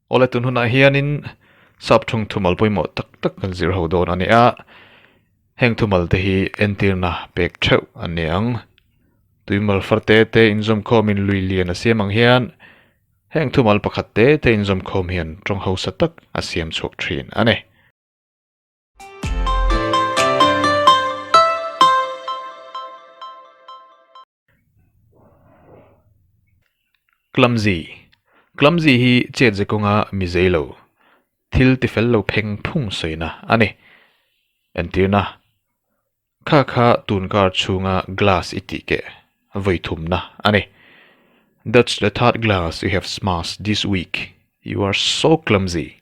Awle tun hunah hianin sapthung thumal pawimawh tak tak kan zirho dawn a ni a, heng thumal te hi entirna pek theuh an ni ang. Tuimal far te te inzawmkhawm in lui lian a siam ang hian heng thumal pakhat te te inzawmkhawm hian tawng hausa tak a siam chhuak thin a ni. Clumsy, Clumsy hi chet ze kawnga mizei lo, thil tifel lo pheng phung sawina a ni. Entirna, Kha kha tun kar chhunga glass i tih keh, vawi thumna a ni. That's the third glass you have smashed this week. You are so clumsy.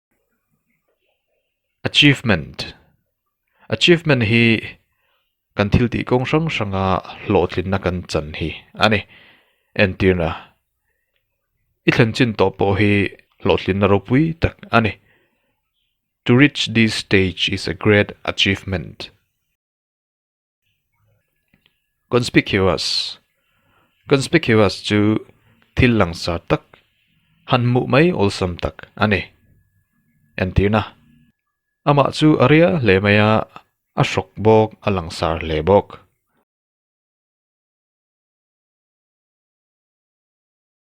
Achievement, Achievement hi kan thil tih kawng hrang hranga hlawhtlinna kan chan hi a ni. Entirna, i thlenchin tawh pawh hi hlawhtlinna ropui tak a ni. To reach this stage is a great achievement. Conspicuous Conspicuous chu thil langsar tak, han hmuh mai awlsam tak a ni. Entirna, Amah chu a ria hle mai a, a hrawk bawk, a langsar hle bawk.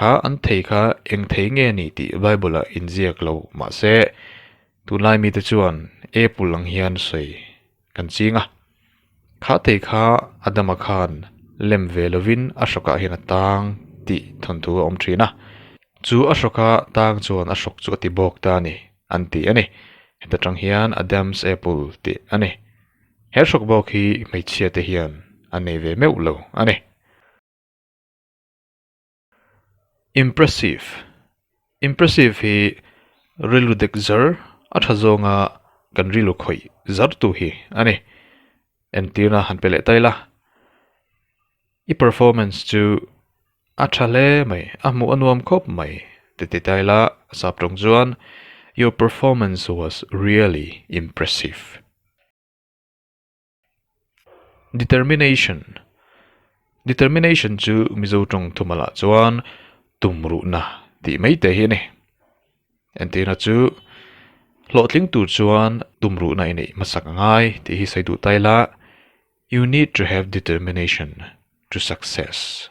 Kha an thei kha eng thei nge ni tih Bible-a inziak lo mah se, tunlai mite chuan Apple ang hian sawi kan ching a. Kha thei kha Adam-a khan lem ve lovin a hrawkah hian a tang tih thawnthu a awm thin a, chu a hrawka tang chuan a hrawk chu a ti bawk ta a ni, an ti a ni. Heta tang hian Adam's apple tih a ni. He hrawk bawk hi hmeichhia te hian an nei ve meuh lo a ni. Impressive Impressive hi rilru dek zar a tha zawnga kan rilru khawih zartu hi a ni. Entirna han pe leh ta ila, i performance chu a tha hle mai, a hmuh a nuam khawp mai ti ti ta ila, a sap tawng chuan Your performance was really impressive. Determination Determination chu Mizo tawng thu malh ah chuan tumruhna tih mai te hi a ni. Entihna chu hlawhtling tur chuan tumruhna a ineih hmasak a ngai tih hi sawi duh ta ila, You need to have determination to success.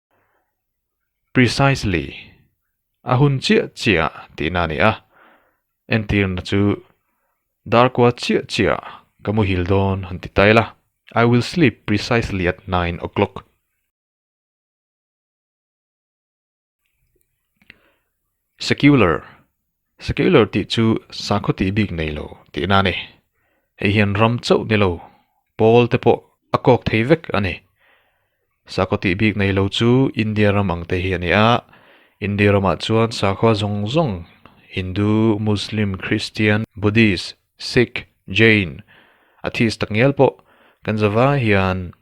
Precisely. A hun chiah chiah tihna a ni a. Entirna chu dar kua chiah chiah ka muhil dawn han ti ta ila. I will sleep precisely at nine o clock. Secular, Secular tih chu sakhaw tih bik nei lo tihna a ni. Hei hian ram chauh ni lo Pawl te pawh a kawk thei vek a ni. Sakhaw tih bik nei lo chu India ram ang te hi a ni a, India ramah chuan sakhaw zawng zawng Hindu, Muslim, Kristian, Buddhist, Sikh, Jain, Atheist tak ngial pawh kan zava hian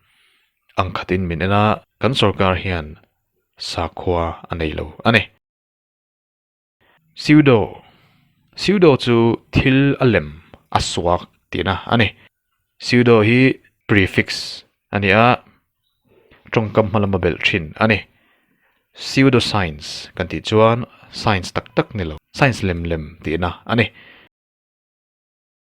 ang khatin min en a, kan sorkar hian sakhua a nei lo a ni. Pseudo, Pseudo chu thil a lem, a suak tihna a ni. Pseudo hi prefix a ni a, tawngkam hma lama belh thin a ni. Pseudoscience kan tih chuan science tak tak ni lo, science lem lem tihna a ni.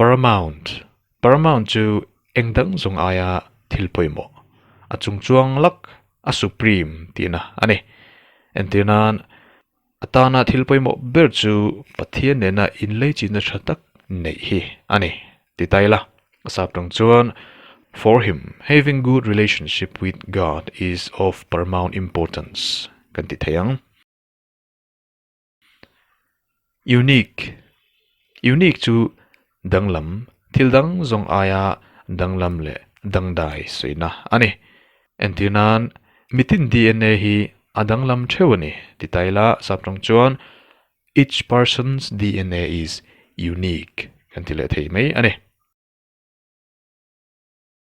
Paramount, Paramount chu eng dang zawng aia thil pawimawh a chung chuang lak a supreme tihna a ni. Entir nan, a tana thil pawimawh ber chu Pathian nena inleichitna tha tak neih hi a ni, ti ta ila. A sap tang chuan, For him, having good relationship with God is of paramount importance, kan ti thei ang. Unique, Unique chu danglam, thil dang zawng aia danglam leh dangdai sawiina a ni. Entir nan, mitin dna hi a danglam theuh a ni ti ta ila sap tang chuan Each person's dna is unique kan ti leh thei mai a ni.